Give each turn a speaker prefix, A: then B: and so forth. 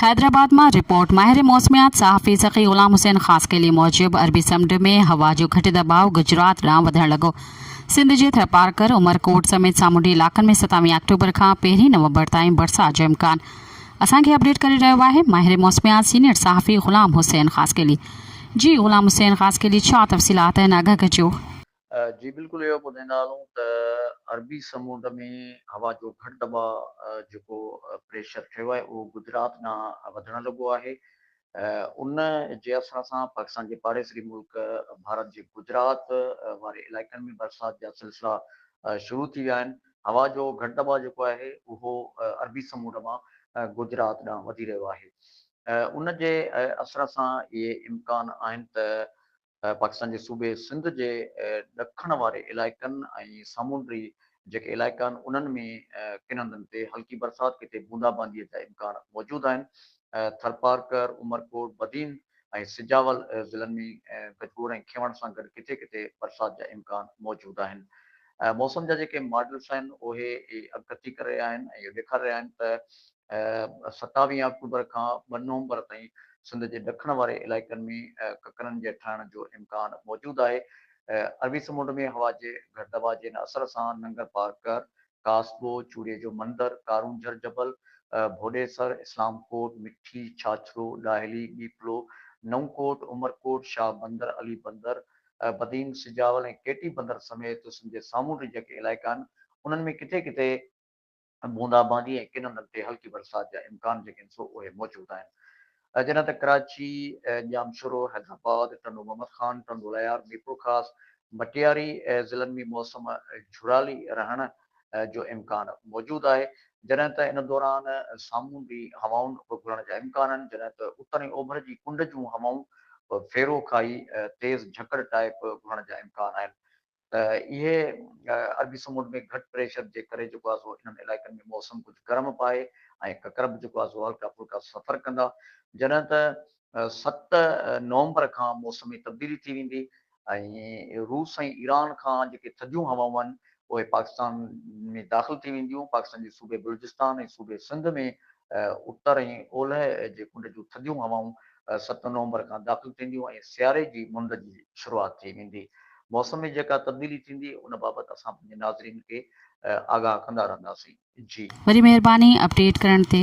A: حيدرآباد مان رپورٽ، ماهر موسميات صحافي سخي غلام حسين خاصخيلي موجب عربي سمنڊ ۾ هوا جو گهٽ دٻاء گجرات ڏانهن وڌڻ لڳو، سنڌ جي ٿرپارڪر، عمرڪوٽ سميت سامونڊي علائقن ۾ ستاويهه آڪٽوبر کان پهرين نومبر تائين برسات جو امڪان، اسان کي اپڊيٽ ڪري رهيو آهي ماهر موسميات سينيئر صحافي غلام حسين خاصخيلي. جي غلام حسين خاصخيلي ڇا تفصيلات آهن آگاهه ڪجو. جي بلڪل
B: اهو ٻڌيندا هلون ته عربي سمنڊ ۾ هوا جو گهٽ دٻاء جيڪو پريشر ٺهيو آهي اهو گجرات ڏانهن وڌڻ لڳو آهي ان جي اثر سان پاڪستان جي پاڙيسري ملڪ ڀارت جي گجرات واري علائقن ۾ برسات جا سلسلا شروع ٿي ويا آهن هوا جو گهٽ دٻاء جيڪو آهي اهو عربي سمنڊ مان گجرات ڏانهن وڌي رهيو آهي ان جي اثر سان اهي امڪان آهن ته پاڪستان جي صوبي سنڌ جي ڏکڻ واري علائقن ۽ سامونڊي جيڪي علائقا آهن انهن ۾ ڪن هنڌن تي هلڪي برسات ڪٿي بوندا باندي جا امڪان موجود آهن، ٿرپارڪر، عمرڪوٽ، بدين ۽ سجاول ضلعن ۾ گجگوڙ ۽ کينوڻ سان گڏ ڪٿي ڪٿي برسات جا امڪان موجود آهن. موسم جا جيڪي ماڊلز آهن اهي اڳڪٿي ڪري رهيا آهن ۽ اهو ڏيکاري رهيا آهن ته ستاويهه آڪٽوبر کان ٻه نومبر تائين سنڌ جي ڏکڻ واري علائقن ۾ ڪڪرن جي ٺهڻ جو امڪان موجود آهي. عربي سمنڊ ۾ هوا جي گهٽ دٻاء جي هن اثر سان ننگر پار ڪر، ڪاسبو، چوڙي جو مندر، ڪارونجهر جبل، ڀوڏيسر، اسلام ڪوٽ، مٺي، ڇاڇرو، ڏاهلي، ٻيپلو، نئون ڪوٽ، عمرڪوٽ، شاهه بندر، علي بندر، بدين، سجاول ۽ ڪيٽي بندر سميت سنڌ جي سامونڊي جيڪي علائقا آهن انهن ۾ ڪٿي ڪٿي بوندا باندي ۽ ڪن هنڌن تي هلڪي برسات جا امڪان جيڪي هن سو اهي موجود آهن جڏهن ته ڪراچي، ڄام شورو، حيدرآباد، ٽنڊو محمد خان، ٽنڊو ليار، ميرپورخاص، مٽياري ضلعن ۾ موسم جھڙالي رهڻ جو امڪان موجود آهي جڏهن ته ان دوران سامونڊي هوائن به گهڙڻ جا امڪان آهن جڏهن ته اتر ۽ اوڀر جي ڪنڊ جون هوائون ڦيرو کائي تيز جھڪڙ ٽائيپ گهڙڻ جا امڪان آهن ته اهي عربي سمنڊ ۾ گهٽ پريشر جي ڪري جيڪو آهي سو انهن علائقن ۾ موسم ڪجهه گرم پائي ۽ ڪڪر به جيڪو آهي سو هلڪا ڦلڪا سفر ڪندا جڏهن ته ست نومبر کان موسم ۾ تبديلي ٿي ويندي ۽ روس ۽ ايران کان جيڪي ٿڌيون هوائون آهن اهي پاڪستان ۾ داخل ٿي وينديون پاڪستان جي صوبي بلوچستان ۽ صوبي سنڌ ۾ اتر ۽ اولهه جي ڪنڊ جون ٿڌيون هوائون ست نومبر کان داخل ٿينديون ۽ سياري جي منڊ جي شروعات ٿي ويندي. موسم ۾ جيڪا تبديلي ٿيندي ان بابت اسان پنهنجي ناظرين کي
A: آگاهه
B: ڪندا
A: رهنداسين. جي.
B: وري مهرباني اپڊيٽ ڪرڻ
A: تي.